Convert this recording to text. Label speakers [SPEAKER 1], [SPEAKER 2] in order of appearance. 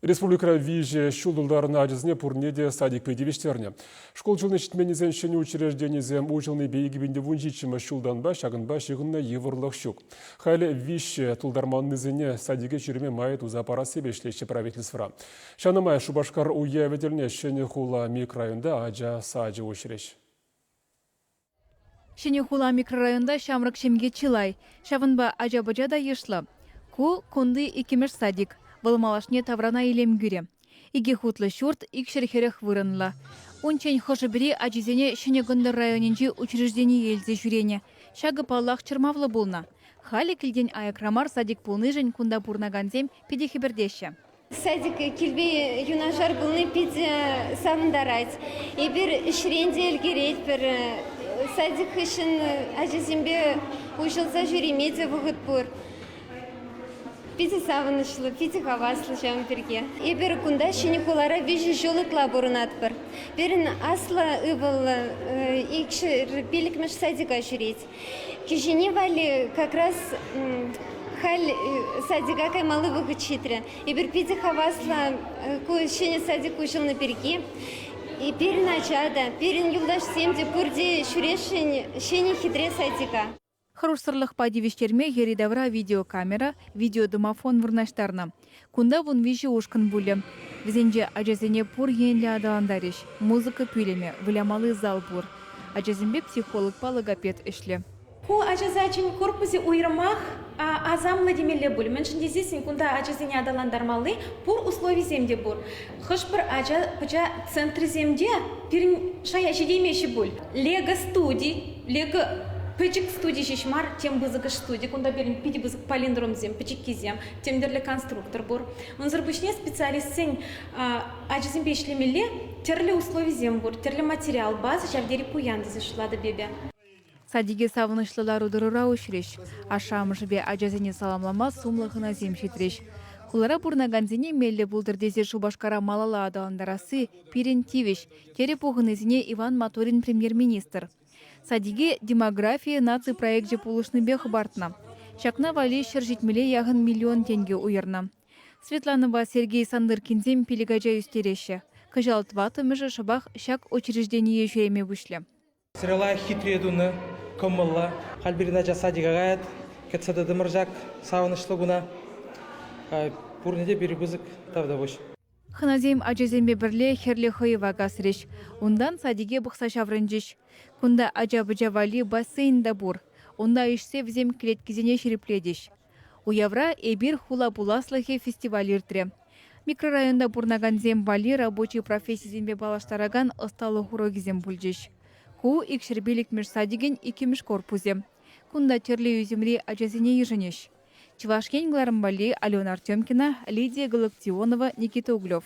[SPEAKER 1] Республикӑра виҫӗ ҫул тултарнӑ ачасене пурне те садикпе тивӗҫтернӗ. Шкул ҫулне ҫитменнисен ҫӗнӗ учрежденийӗсем уҫӑлнипе 2017 ҫултанпа ҫакӑнпа ҫыхӑннӑ йывӑрлӑх ҫук. Халӗ виҫҫӗ тултарманнисене садике ҫӳреме май туса парассипе ӗҫлеҫҫӗ правительствӑра. Ҫавна май Шупашкар уявӗ тӗлне Ҫӗнӗ хула микрорайонта ача сачӗ уҫрӗҫ.
[SPEAKER 2] Ҫӗнӗ хула микрорайонта ҫамрӑк ҫемье чылай. Ҫавӑнпа ача-пӑча та йышлӑ. Ку кунти иккӗмӗш садик. Вӑл малашне таврана илем кӳрӗ. Икӗ хутлӑ ҫурт икҫӗр хӗрӗх вырӑнлӑ. Унччен хӑшӗ-пӗри ачисене Ҫӗнӗ Кӑнтӑр районӗнчи учреждение илсе ҫӳренӗ. Ҫакӑ, паллах, чӑрмавлӑ пулнӑ. Халӗ килтен аякра мар садик пулнишӗн кунта пурӑнакансем питӗ хӗпӗртеҫҫӗ. Садика
[SPEAKER 3] килпе юнашар пулни питӗ савӑнтарать. Эпир ӗҫрен те ӗлкӗретпӗр. Садик хыҫҫӑн ачасемпе уҫӑлса ҫӳреме те вӑхӑт пур. Питӗ савӑнӑҫлӑ, питӗ хаваслӑ ҫавӑн пирки. Эпир кунта ҫӗнӗ хулара виҫӗ ҫул ытла пурӑнатпӑр. Пирӗн аслӑ ывӑллӑ икҫӗр пиллӗкмӗш садика ҫӳрет. Кӗҫӗнни валли как раз халь садика каймалли вӑхӑт ҫитрӗ. Эпир питӗ хаваслӑ ку ҫӗнӗ садик уҫӑлнӑ пирки. Пирӗн ача та, пирӗн юлташсем те пурте ҫӳресшӗн ҫӗнӗ хитре садика. Хӑрушсӑрлӑхпа
[SPEAKER 2] тивӗҫтерме йӗри-тавра видеокамера, видеодомофон вырнаҫтарнӑ. Кунта вун виҫӗ ушкӑн пулӗ. Вӗсенче ачасене пур енлӗ аталантарӗҫ, музыка пӳлӗмӗ, вылямалли зал пур. Ачасемпе психологпа логопед ӗҫлӗ. Ку ачасачӗн
[SPEAKER 4] корпусӗ уйрӑмах асамлӑ темелле пуль, мӗншӗн тесессӗн кунта ачасене аталантармалли пур условисем те пур. Хӑш-пӗр ача центрӗсем те пирӗн шая ҫитеймеҫҫӗ пуль. Лего студи, Лего пӗчӗк студи ҫеҫ мар, тем пысӑкӑш студи. Кунта пирӗн питӗ пысӑк палиндромсем, пӗчӗккисем, тимлӗрлӗ конструктор пур. Унсӑр пуҫне специалистсен ачасемпе ӗҫлемелле тӗрлӗ условисем пур, тӗрлӗ материал, база ҫав тери пуян тесе шутлатӑп эпӗ. Садике
[SPEAKER 2] савӑнӑҫлӑ лару-тӑрура уҫрӗҫ. Ашшӗ-амӑшӗпе ачасене саламлама сумлӑ хӑнасем ҫитрӗҫ. Хулара пурӑнакансене меллӗ пултӑр тесе Шупашкара малалла аталантарасси пирӗн тивӗҫ, терӗ пухӑннисене Иван Моторин премьер-министр. Садике «Демография наци» проекчӗ пулӑшнипе хӑпартнӑ. Ҫакна валли ҫӗр ҫитмӗле яхӑн миллион тенкӗ уйӑрнӑ. Светланӑпа Сергей Сандыркинсем пилӗк ача ӳстереҫҫӗ. Кӑҫал тӑваттӑмӗшӗ шӑпах ҫак учреждение ҫӳреме пуҫлӗ. Сырӑла хитре
[SPEAKER 5] тунӑ, кӑмӑллӑ. Халь пирӗн ача садика каять. Кӗтсе тӑтӑмӑр ҫак савӑнӑҫлӑ куна. Пурне те пирӗн пысӑк тавтапуҫ. Хӑнасем
[SPEAKER 2] ачасемпе пӗрле хӗрлӗ хӑйӑва касрӗҫ. Унтан садике пӑхса ҫаврӑнчӗҫ. Кунта ача-пӑча валли бассейн та пур. Унта ишсе вӗсем клеткисене ҫирӗплетӗҫ. Уявра «Эпир хула пуласлӑхӗ» фестиваль иртрӗ. Микрорайонта пурӑнакансем валли рабочи профессисемпе паллаштаракан ӑсталӑх урокӗсем пулчӗҫ. Ку Икҫӗрпиллӗкмӗш садикӗн иккӗмӗш корпусӗ. Кунта тӗрлӗ ӳсӗмри ачасене йышӑнӗҫ. Чӑваш Ен кӑларӑм валли Алена Артемкина, Лидия Галактионова, Никита Углев.